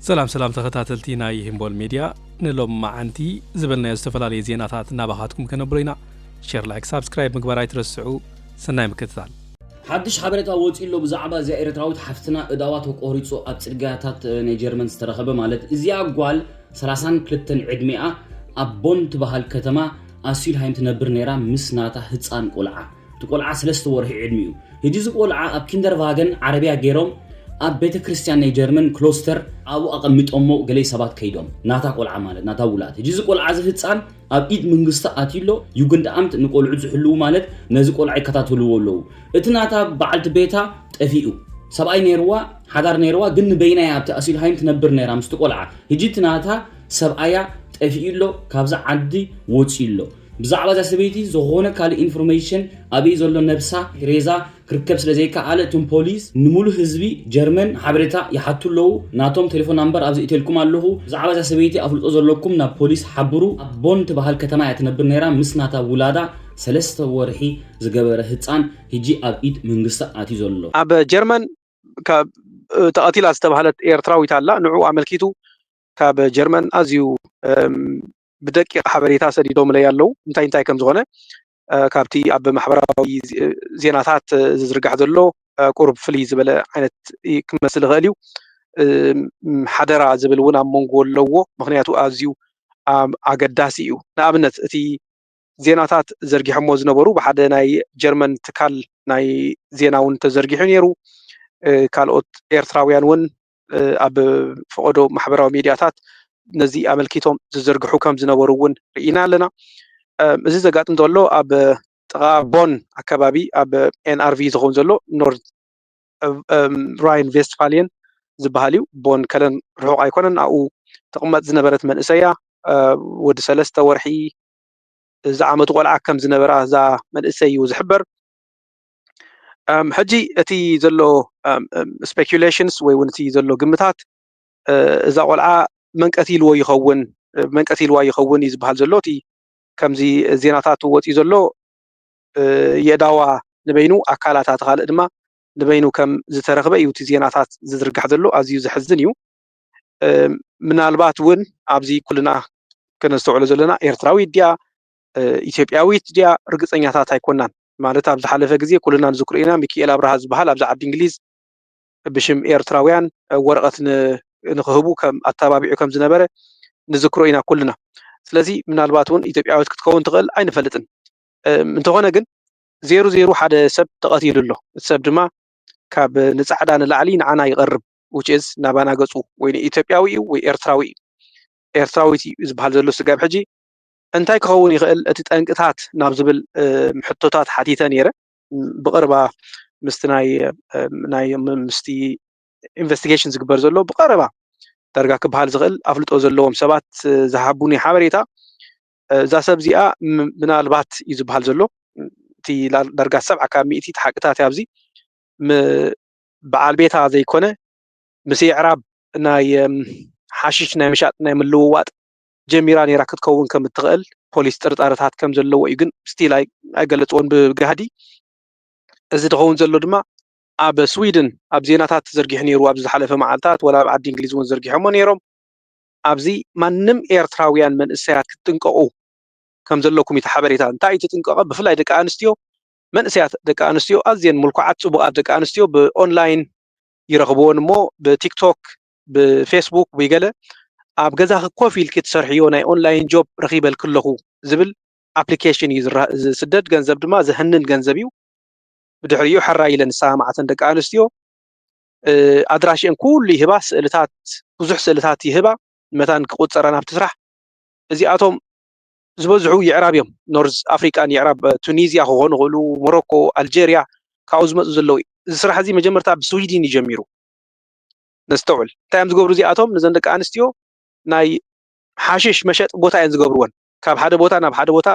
ሰላም ሰላም ተኸታተልቲ ናይ ሂምቦል ሜድያ ንሎምመዓንቲ ዝበልናዮ ዝተፈላለየ ዜናታት ናባኻትኩም ከነብሮ ኢና ሸር ላይክ ሳብስክራይብ ምግባር ኣይትረስዑ ሰናይ ምክትታል። ሓድሽ ሓበሬታ ወጺኡ ኣሎ ብዛዕባ እዚኣ ኤረትራዊት ሓፍትና እዳዋ ተቆሪጹ ኣብ ጽርግያታት ናይ ጀርመን ዝተረኸበ ማለት እዚኣ ጓል ሰላሳን ክልተን ዕድሜኣ ኣብ ቦን ትበሃል ከተማ ኣስዩልሃይም ትነብር ነይራ ምስ ናታ ህጻን ቆልዓ እቲ ቆልዓ ሰለስተ ወርሒ ዕድሚኡ። ሕጂ እዚ ቆልዓ ኣብ ኪንደርቫገን ዓረብያ ጌሮም ኣብ ቤተ ክርስትያን ናይ ጀርመን ክሎስተር ኣብኡ ኣቐሚጦሞ ገሌ ሰባት ከይዶም ናታ ቆልዓ ማለት ናታ ውላድ ሕጂ እዚ ቆልዓ እዚ ህጻን ኣብ ኢድ መንግስቲ ኣትዩ ኣሎ ዩግንድኣምት ንቆልዑት ዝሕልዉ ማለት ነዚ ቆልዓ ይከታተልዎ ኣለዉ እቲ ናታ በዓልቲ ቤታ ጠፊኡ ሰብኣይ ነይርዋ ሓዳር ነይርዋ ግን ንበይና እያ ኣብቲ ኣሲልሃይም ትነብር ነይራ ምስቲ ቆልዓ ሕጂ እቲ ናታ ሰብኣያ ጠፊኡ ኣሎ ካብዚ ዓዲ ወጺኡ ኣሎ ብዛዕባ እዛ ሰበይቲ ዝኾነ ካልእ ኢንፎርሜሽን ኣበይ ዘሎ ነብሳ፣ ሬዛ፣ ክርከብ ስለ ዘይከኣለ እቶም ፖሊስ ንሙሉእ ህዝቢ ጀርመን ሓበሬታ ይሓቱ ኣለዉ። ናቶም ቴሌፎን ናምበር ኣብዚ እቴልኩም ኣለኹ። ብዛዕባ እዛ ሰበይቲ ኣፍልጦ ዘለኩም ናብ ፖሊስ ሓብሩ። ኣብ ቦን ትበሃል ከተማ እያ ትነብር ነይራ ምስ ናታ ውላዳ ሰለስተ ወርሒ ዝገበረ ህጻን ህጂ ኣብ ኢድ መንግስቲ ኣትዩ ዘሎ። ኣብ ጀርመን ካብ ተቐቲላ ዝተባህለት ኤርትራዊት ኣላ ንዕኡ ኣመልኪቱ ካብ ጀርመን ኣዝዩ ብደቂቕ ሓበሬታ ሰዲዶምለይ ኣለው እንታይ እንታይ ከም ዝኾነ ካብቲ ኣብ ማሕበራዊ ዜናታት ዝዝርጋሕ ዘሎ ቁሩብ ፍልይ ዝበለ ዓይነት ክመስል ይኽእል እዩ ሓደራ ዝብል እውን ኣብ መንጎ ኣለዎ ምክንያቱ ኣዝዩ ኣገዳሲ እዩ ንኣብነት እቲ ዜናታት ዘርጊሖሞ ዝነበሩ ብሓደ ናይ ጀርመን ትካል ናይ ዜና እውን ተዘርጊሑ ነይሩ ካልኦት ኤርትራውያን እውን ኣብ ፈቐዶ ማሕበራዊ ሚድያታት ነዚ ኣመልኪቶም ዝዝርግሑ ከም ዝነበሩ እውን ርኢና ኣለና። እዚ ዘጋጥም ዘሎ ኣብ ጥቓ ቦን ኣከባቢ ኣብ ኤንኣርቪ ዝኸውን ዘሎ ኖርዝ ራይን ቬስትፋልየን ዝበሃል እዩ። ቦን ከለን ርሑቕ ኣይኮነን። ኣብኡ ትቕመጥ ዝነበረት መንእሰያ ወዲ ሰለስተ ወርሒ ዝዓመቱ ቆልዓ ከም ዝነበራ እዛ መንእሰይ እዩ ዝሕበር። ሕጂ እቲ ዘሎ ስፔኪሌሽንስ ወይ እውን እቲ ዘሎ ግምታት እዛ ቆልዓ መንቀት ኢልዎ ይኸውን መንቀት ኢልዋ ይኸውን እዩ ዝበሃል ዘሎ እቲ ከምዚ ዜናታት ወፂኡ ዘሎ የእዳዋ ንበይኑ ኣካላታ እቲ ካልእ ድማ ንበይኑ ከም ዝተረኽበ እዩ እቲ ዜናታት ዝዝርጋሕ ዘሎ ኣዝዩ ዘሕዝን እዩ ምናልባት እውን ኣብዚ ኩልና ከነስተውዕሎ ዘለና ኤርትራዊ ድያ ኢትዮጵያዊት ድያ ርግፀኛታት ኣይኮናን ማለት ኣብ ዝሓለፈ ግዜ ኩልና ንዝክሮ ኢና ሚኪኤል ኣብርሃ ዝበሃል ኣብዚ ዓዲ እንግሊዝ ብሽም ኤርትራውያን ወረቐት ንክህቡ ከም ኣተባቢዑ ከም ዝነበረ ንዝክሮ ኢና ኩልና። ስለዚ ምናልባት እውን ኢትዮጵያዊት ክትከውን ትኽእል ኣይንፈልጥን። እንተኾነ ግን ዜሩ ዜሩ ሓደ ሰብ ተቐቲሉ ኣሎ። እቲ ሰብ ድማ ካብ ንጻዕዳ ንላዕሊ ንዓና ይቐርብ ውጭዝ ናባና ገጹ ወይ ንኢትዮጵያዊ እዩ ወይ ኤርትራዊ እዩ ኤርትራዊት እዩ ዝበሃል ዘሎ ስጋብ ሕጂ እንታይ ክኸውን ይኽእል እቲ ጠንቅታት ናብ ዝብል ሕቶታት ሓቲተ ነይረ። ብቐረባ ምስቲ ናይ ምስቲ ኢንቨስቲጌሽን ዝግበር ዘሎ ብቐረባ ዳርጋ ክበሃል ዝኽእል ኣፍልጦ ዘለዎም ሰባት ዝሃቡኒ ሓበሬታ እዛ ሰብ እዚኣ ምናልባት እዩ ዝበሃል ዘሎ እቲ ዳርጋ ሰብዓ ካብ ሚእቲ እቲ ሓቅታት ኣብዚ በዓል ቤታ ዘይኮነ ምስ የዕራብ ናይ ሓሽሽ ናይ ምሻጥ ናይ ምልውዋጥ ጀሚራ ነይራ ክትከውን ከም እትኽእል ፖሊስ ጥርጣረታት ከም ዘለዎ እዩ ግን ስቲል ኣይገለፅዎን ብጋህዲ እዚ ዝኸውን ዘሎ ድማ ኣብ ስዊድን ኣብ ዜናታት ዘርጊሑ ነይሩ ኣብዚ ዝሓለፈ መዓልታት ወላ ኣብ ዓዲ እንግሊዝ እውን ዘርጊሖሞ ነይሮም ኣብዚ ማንም ኤርትራውያን መንእሰያት ክትጥንቀቑ ከም ዘለኩም እቲ ሓበሬታ እንታይ እዩ ትጥንቀቐ ብፍላይ ደቂ ኣንስትዮ መንእሰያት ደቂ ኣንስትዮ ኣዝየን ምልኩዓት ፅቡቓት ደቂ ኣንስትዮ ብኦንላይን ይረኽብዎን እሞ ብቲክቶክ ብፌስቡክ ወይ ገለ ኣብ ገዛኺ ኮፍ ኢልኪ ትሰርሕዮ ናይ ኦንላይን ጆብ ረኺበልኪ ኣለኹ ዝብል ኣፕሊኬሽን እዩ ዝስደድ። ገንዘብ ድማ ዘህንን ገንዘብ እዩ። ብድሕሪኡ ሕራይ ኢለን ዝሰማምዓተን ደቂ ኣንስትዮ ኣድራሽአን ኩሉ ይህባ፣ ስእልታት ብዙሕ ስእልታት ይህባ፣ መታን ክቁፀረን ኣብቲ ስራሕ እዚኣቶም ዝበዝሑ ይዕራብ እዮም። ኖርዝ ኣፍሪቃን ይዕራብ ቱኒዝያ ክኾኑ ይኽእሉ፣ ሞሮኮ፣ ኣልጀርያ ካብኡ ዝመፁ ዘለዉ እዩ። እዚ ስራሕ እዚ መጀመርታ ብስዊድን እዩ ጀሚሩ። ነስተውዕል። እንታይ እዮም ዝገብሩ እዚኣቶም? ነዘን ደቂ ኣንስትዮ ናይ ሓሽሽ መሸጢ ቦታ እየን ዝገብርወን። ካብ ሓደ ቦታ ናብ ሓደ ቦታ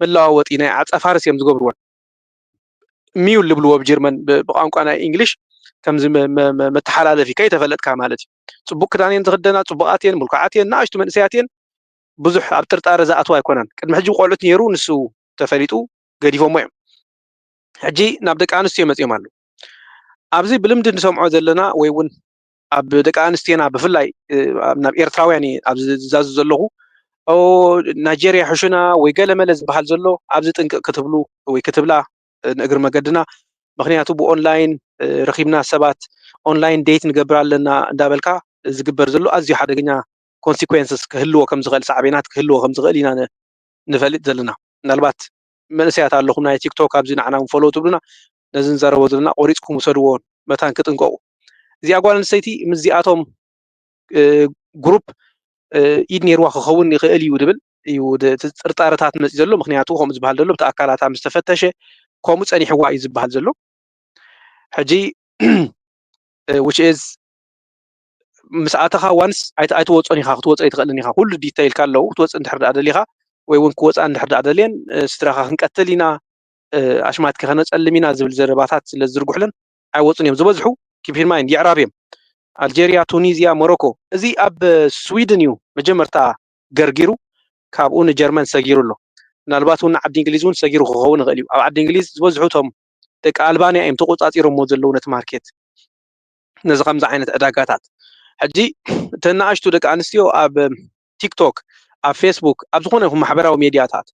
መለዋወጢ ናይ ዓፀፋርስ እዮም ዝገብርወን። ሚዩል ዝብልዎ ብጀርመን ብቋንቋ ናይ እንግሊሽ ከምዚ መተሓላለፊ ከይተፈለጥካ ማለት እዩ። ፅቡቅ ክዳን እየን ዝኽደና፣ ፅቡቃት እየን፣ ምልኩዓት እየን፣ ንኣሽቱ መንእሰያት እየን። ብዙሕ ኣብ ጥርጣረ ዝኣትዋ ኣይኮናን። ቅድሚ ሕጂ ቆልዑት ነይሩ ንሱ ተፈሊጡ ገዲፎሞ እዮም። ሕጂ ናብ ደቂ ኣንስትዮ መፂኦም ኣለዉ። ኣብዚ ብልምዲ ንሰምዖ ዘለና ወይ እውን ኣብ ደቂ ኣንስትዮና ብፍላይ ናብ ኤርትራውያን እየ ኣብዚ ዝዛዙ ዘለኹ ናይጀርያ ሕሹና ወይ ገለመለ ዝበሃል ዘሎ ኣብዚ ጥንቅቕ ክትብሉ ወይ ክትብላ ንእግሪ መገድና ምክንያቱ ብኦንላይን ረኪብና ሰባት ኦንላይን ዴት ንገብር ኣለና እንዳበልካ ዝግበር ዘሎ ኣዝዩ ሓደገኛ ኮንሲኮንስስ ክህልዎ ከም ዝኽእል ሳዕቤናት ክህልዎ ከም ዝኽእል ኢና ንፈልጥ ዘለና ምናልባት መንእሰያት ኣለኹም ናይ ቲክቶክ ኣብዚ ንዓና ፎሎ ትብሉና ነዚ ንዘረቦ ዘለና ቆሪፅኩም ውሰድዎ መታን ክጥንቀቁ እዚኣ ጓል ኣንስተይቲ ምስዚኣቶም ግሩፕ ኢድ ነይርዋ ክኸውን ይኽእል እዩ ድብል እዩ ጥርጣረታት መፂ ዘሎ ምክንያቱ ከምኡ ዝበሃል ዘሎ እቲ ኣካላታ ምስ ተፈተሸ ከምኡ ፀኒሕዋ እዩ ዝበሃል ዘሎ ሕጂ ዊች ኢዝ ምስ ኣተኻ ዋንስ ኣይትወፆን ኢኻ ክትወፆ ኣይትኽእልን ኢኻ ኩሉ ዲተይልካ ኣለዉ ክትወፅእ እንድሕር ደኣ ደሊኻ ወይ እውን ክወፃ እንድሕር ደኣ ደልየን ስድራኻ ክንቀትል ኢና ኣሽማት ከነፀልም ኢና ዝብል ዘረባታት ስለ ዝዝርግሑለን ኣይወፁን እዮም ዝበዝሑ ኪፒርማይን የዕራብ እዮም ኣልጀርያ ቱኒዝያ ሞሮኮ እዚ ኣብ ስዊድን እዩ መጀመርታ ገርጊሩ ካብኡ ንጀርመን ሰጊሩ ኣሎ ምናልባት እውን ንዓዲ እንግሊዝ እውን ሰጊሩ ክኸውን ይኽእል እዩ ኣብ ዓዲ እንግሊዝ ዝበዝሑ እቶም ደቂ ኣልባንያ እዮም ተቆፃፂሮሞ ዘለዉ ነቲ ማርኬት ነዚ ከምዚ ዓይነት ዕዳጋታት ሕጂ እተን ንኣሽቱ ደቂ ኣንስትዮ ኣብ ቲክቶክ ኣብ ፌስቡክ ኣብ ዝኾነ ይኹን ማሕበራዊ ሜድያታት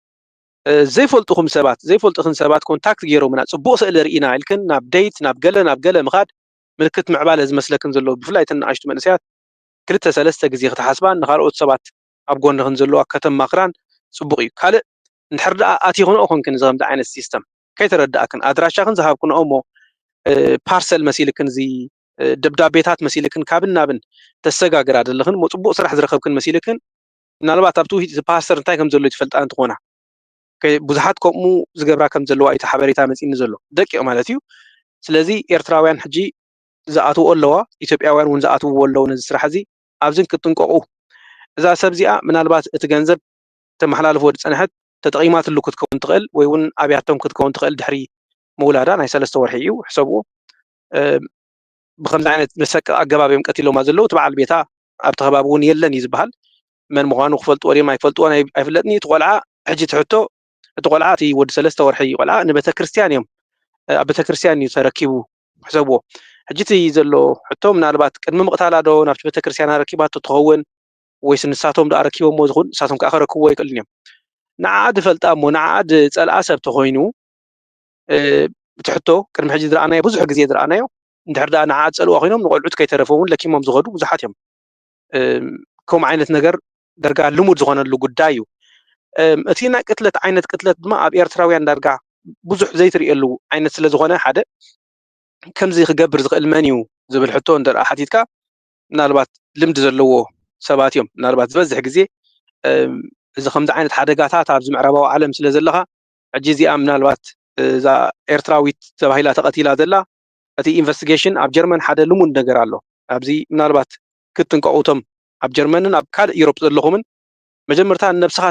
ዘይፈልጡኹም ሰባት ዘይፈልጡኽን ሰባት ኮንታክት ገይሮምና ጽቡቕ ስእሊ ርኢና ኢልክን ናብ ደይት ናብ ገለ ናብ ገለ ምኻድ ምልክት ምዕባለ ዝመስለክን ዘሎ ብፍላይ እተን ንኣሽቱ መንእሰያት ክልተ ሰለስተ ግዜ ክትሓስባን ንኻልኦት ሰባት ኣብ ጎንኽን ዘለዋ ከተማኽራን ጽቡቕ እዩ ካልእ እንድሕር ደኣ ኣቲኽንኦ ኮንክን እዚ ከምዚ ዓይነት ሲስተም ከይተረድኣክን ኣድራሻኽን ዝሃብክንኦ እሞ ፓርሰል መሲልክን እዚ ደብዳቤታት መሲልክን ካብን ናብን ተሰጋግራ ዘለኽን እሞ ጽቡቕ ስራሕ ዝረኸብክን መሲልክን ምናልባት ኣብቲ ውሂጥ እቲ ፓስተር እንታይ ከም ዘሎ ኣይትፈልጣን እንትኾና ብዙሓት ከምኡ ዝገብራ ከም ዘለዋ እዩ ሓበሬታ መፂኒ ዘሎ ደቂቕ ማለት እዩ ስለዚ ኤርትራውያን ሕጂ ዝኣትዎ ኣለዋ ኢትዮጵያውያን እውን ዝኣትውዎ ኣለዉ ነዚ ስራሕ እዚ ኣብዚ ክትጥንቀቑ እዛ ሰብ እዚኣ ምናልባት እቲ ገንዘብ ተመሓላልፎ ዝፀንሐት ተጠቒማትሉ ክትከውን ትኽእል ወይ እውን ኣብያቶም ክትከውን ትኽእል ድሕሪ ምውላዳ ናይ ሰለስተ ወርሒ እዩ ሕሰብዎ ብከምዚ ዓይነት መሰቀ ኣገባብ እዮም ቀቲሎማ ዘለዉ እቲ በዓል ቤታ ኣብቲ ከባቢ እውን የለን እዩ ዝበሃል። መን ምዃኑ ክፈልጥዎ ድዮም ኣይፈልጥዎን ኣይፍለጥን እዩ። እቲ ቆልዓ ሕጂ እቲ ሕቶ እቲ ቆልዓ እቲ ወዲ ሰለስተ ወርሒ ቆልዓ ንቤተክርስትያን እዮም ኣብ ቤተክርስትያን እዩ ተረኪቡ ሕሰብዎ። ሕጂ እቲ ዘሎ ሕቶ ምናልባት ቅድሚ ምቕታላ ዶ ናብቲ ቤተክርስትያን ኣረኪባቶ ትኸውን ወይስ ንሳቶም ዶ ኣረኪቦምዎ ዝኹን ንሳቶም ከዓ ከረክብዎ ይክእልን እዮም። ንዓዓ ድፈልጣ እሞ ንዓዓ ድጸልኣ ሰብ ተኾይኑ እቲ ሕቶ ቅድሚ ሕጂ ዝረኣናዮ ብዙሕ ግዜ ዝረኣናዮ እንድሕር ደኣ ንዓ ዝጸልእዋ ኮይኖም ንቆልዑት ከይተረፈ ውን ለኪሞም ዝኸዱ ብዙሓት እዮም። ከምኡ ዓይነት ነገር ደርጋ ልሙድ ዝኾነሉ ጉዳይ እዩ። እቲ ናይ ቅትለት ዓይነት ቅትለት ድማ ኣብ ኤርትራውያን ዳርጋ ብዙሕ ዘይትርእየሉ ዓይነት ስለ ዝኾነ ሓደ ከምዚ ክገብር ዝኽእል መን እዩ ዝብል ሕቶ እንተ ሓቲትካ ምናልባት ልምዲ ዘለዎ ሰባት እዮም ምናልባት ዝበዝሕ ግዜ እዚ ከምዚ ዓይነት ሓደጋታት ኣብዚ ምዕራባዊ ዓለም ስለ ዘለኻ ሕጂ እዚኣ ምናልባት እዛ ኤርትራዊት ተባሂላ ተቐቲላ ዘላ እቲ ኢንቨስቲገሽን ኣብ ጀርመን ሓደ ልሙድ ነገር ኣሎ ኣብዚ ምናልባት ክትጥንቀቁ እቶም ኣብ ጀርመንን ኣብ ካልእ ዩሮፕ ዘለኹምን መጀመርታ ንነብስኻ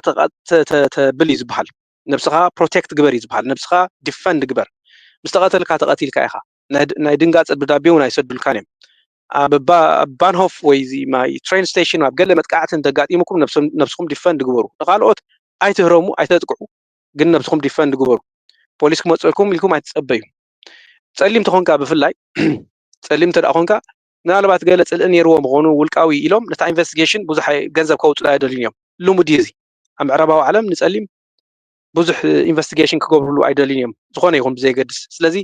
ተብል እዩ ዝበሃል ነብስኻ ፕሮቴክት ግበር እዩ ዝበሃል ነብስኻ ዲፈንድ ግበር ምስ ተቐተልካ ተቐቲልካ ኢኻ ናይ ድንጋጸ ደብዳቤ እውን ኣይሰዱልካን እዮም ኣብ ባንሆፍ ወይ እዚ ማይ ትሬን ስቴሽን ኣብ ገለ መጥቃዕቲ እንተጋጢሙኩም ነብስኹም ዲፈንድ ግበሩ ንካልኦት ኣይትህረሙ ኣይተጥቅዑ ግን ነብስኹም ዲፈንድ ግበሩ ፖሊስ ክመፀልኩም ኢልኩም ኣይትፀበዩ ጸሊም ተኾንካ ብፍላይ ጸሊም እንተ ኮንካ ምናልባት ገለ ጽልኢ ነይርዎ ምኾኑ ውልቃዊ ኢሎም ነታ ኢንቨስቲጌሽን ብዙሕ ገንዘብ ከውፅኡ ኣይደልዩን እዮም ልሙድ እዩ እዚ ኣብ ምዕራባዊ ዓለም ንጸሊም ብዙሕ ኢንቨስቲጌሽን ክገብርሉ ኣይደልዩን እዮም ዝኾነ ይኹን ብዘየገድስ ስለዚ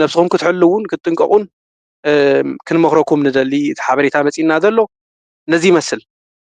ነብስኹም ክትሕልውን ክትጥንቀቑን ክንመኽረኩም ንደሊ እቲ ሓበሬታ መፂና ዘሎ ነዚ ይመስል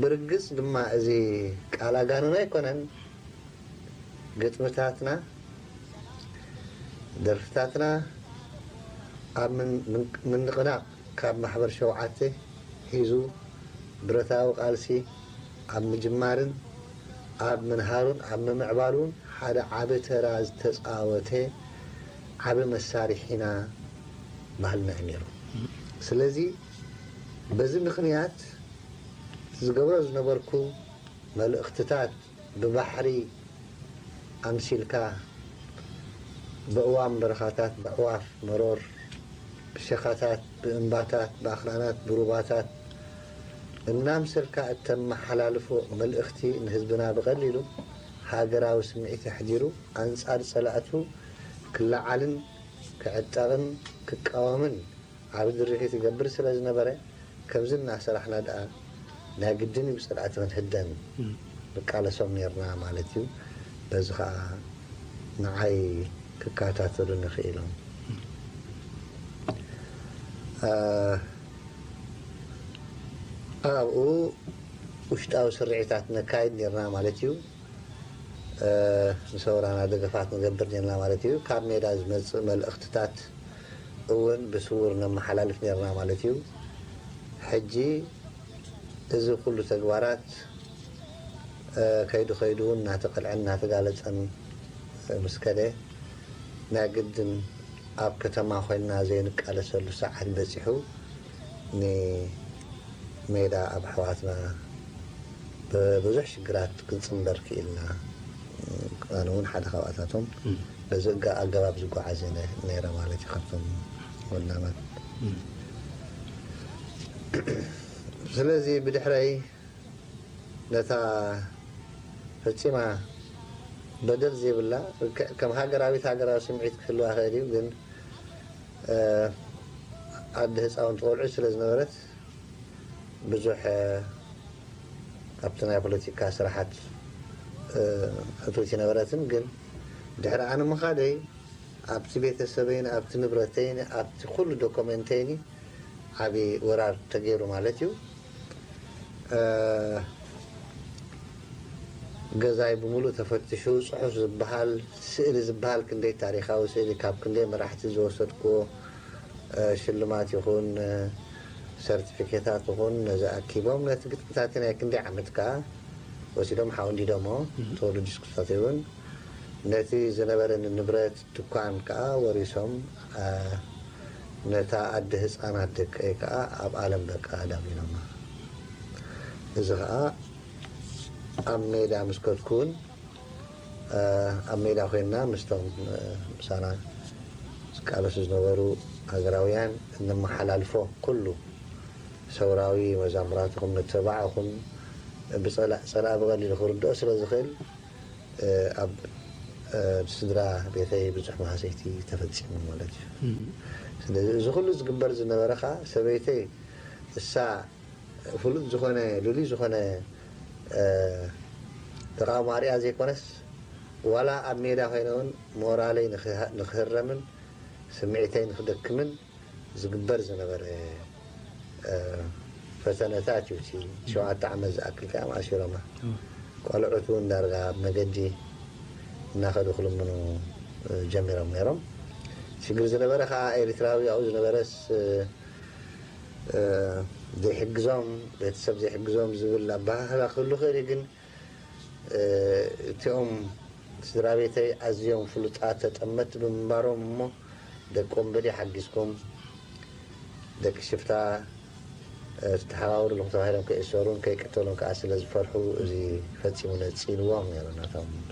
ብርግጽ ድማ እዚ ቃል ኣጋንን ኣይኮነን፣ ግጥምታትና፣ ደርፍታትና ኣብ ምንቕናቕ ካብ ማሕበር ሸውዓተ ሒዙ ብረታዊ ቃልሲ ኣብ ምጅማርን ኣብ ምንሃሩን ኣብ ምምዕባሉን ሓደ ዓቢ ተራ ዝተጻወተ ዓቢ መሳርሒና ባህልና እዩ ነይሩ። ስለዚ። በዚ ምኽንያት እቲ ዝገብሮ ዝነበርኩ መልእኽትታት ብባሕሪ ኣምሲልካ፣ በእዋም በረኻታት፣ በዕዋፍ መሮር፣ ብሸኻታት፣ ብእምባታት፣ ብኣኽራናት፣ ብሩባታት እናምሰልካ እተመሓላልፎ መልእኽቲ ንህዝብና ብቐሊሉ ሃገራዊ ስምዒት ኣሕዲሩ ኣንጻር ጸላእቱ ክለዓልን ክዕጠቕን ክቃወምን ዓቢ ድርኺት ይገብር ስለ ዝነበረ ከምዚ እናሰራሕና ደኣ ናይ ግድን እዩ ብጸላእቲ ክንህደን ንቃለሶም ኔርና ማለት እዩ፣ በዚ ከኣ ንዓይ ክከታተሉኒ ክኢሎም። ኣብኡ ውሽጣዊ ስርዒታት ነካይድ ኔርና ማለት እዩ። ንሰውራና ደገፋት ንገብር ኔርና ማለት እዩ። ካብ ሜዳ ዝመጽእ መልእኽትታት እውን ብስዉር ነመሓላልፍ ኔርና ማለት እዩ። ሕጂ እዚ ኩሉ ተግባራት ከይዱ ከይዱ እውን እናተቐልዐን እናተጋለጸን ምስ ከደ፣ ናይ ግድን ኣብ ከተማ ኮይንና ዘይንቃለሰሉ ሰዓት በጺሑ ን ሜዳ ኣብ ኣሕዋትና ብ ብዙሕ ሽግራት ክንጽንበር ክኢልና ኣነ ውን ሓደ ካብኣታቶም በዚ ኣገባብ ዝጎዓዝ እየ ነይረ ማለት እዩ ካብቶም ወናማት ስለዚ ብድሕረይ ነታ ፈጺማ በደል ዘይብላ ከም ሃገራዊት ሃገራዊ ስምዒት ክህልዋ ይኽእል እዩ ግን ዓዲ ህፃውንቲ ቆልዑት ስለ ዝነበረት ብዙሕ ኣብቲ ናይ ፖለቲካ ስራሓት እትውት ኣይነበረትን ግን ድሕሪ ኣነ ምኻደይ ኣብቲ ቤተሰበይን ኣብቲ ንብረተይን ኣብቲ ኩሉ ዶኮመንተይን ዓብዪ ወራር ተገይሩ ማለት እዩ። ገዛይ ብምሉእ ተፈትሹ ጽሑፍ ዝበሃል ስእሊ ዝበሃል ክንደይ ታሪኻዊ ስእሊ ካብ ክንደይ መራሕቲ ዝወሰድክዎ ሽልማት ይኹን ሰርቲፊኬታት ይኹን ነዚ ኣኪቦም ነቲ ግጥምታቲ ናይ ክንደይ ዓመት ከኣ ወሲዶም ሓው እንዲዶሞ ተወልድ ስክፍታተይውን ነቲ ዝነበረኒ ንብረት ትኳን ከኣ ወሪሶም ነታ ኣደ ህጻናት ደቀይ ከኣ ኣብ ኣለም በቃ ዳሚኖማ እዚ ከኣ ኣብ ሜዳ ምስ ከድኩውን ኣብ ሜዳ ኮይንና ምስቶም ምሳና ዝቃለሱ ዝነበሩ ሃገራውያን እነመሓላልፎ ኩሉ ሰውራዊ መዛሙራትኹም ንተባዕ እኹም ብጸላእ ጸላኢ ብቐሊሉ ክርድኦ ስለ ዝኽእል ኣብ ስድራ ቤተይ ብዙሕ ማህሰይቲ ተፈጺሙ ማለት እዩ። ስለዚ እዚ ኩሉ ዝግበር ዝነበረ ከኣ ሰበይተይ እሳ ፍሉጥ ዝኾነ ልሉይ ዝኾነ ተቓውሞ ኣርእያ ዘይኮነስ ዋላ ኣብ ሜዳ ኮይነ ውን ሞራለይ ንኽህረምን ስምዒተይ ንኽደክምን ዝግበር ዝነበረ ፈተነታት እዩ እቲ ሸውዓተ ዓመት ዝኣክል ከ ኣማእሲሮማ ቆልዑት እውን ዳርጋ ኣብ መገዲ እናኸዱ ክልምኑ ጀሚሮም ነይሮም ሽግር ዝነበረ ከዓ ኤሪትራዊ ኣብኡ ዝነበረስ ዘይሕግዞም ቤተሰብ ዘይሕግዞም ዝብል ኣበሃህላ ክህሉ ክእል ግን እቲኦም ስድራቤተይ ኣዝዮም ፍሉጣት ተጠመትቲ ብምንባሮም እሞ ደቆም በሊሕ ሓጊዝኩም ደቂ ሽፍታ ዝተሓባበርልኹም ተባሂሎም ከይእሰሩን ከይቅተሉን ከኣ ስለዝፈርሑ እዚ ፈጺሙ ነጺልዎም ነይሩ ነቶም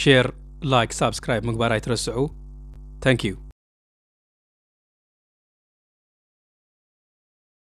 ሼር ላይክ ሳብስክራይብ ምግባር ኣይትረስዑ ታንኪዩ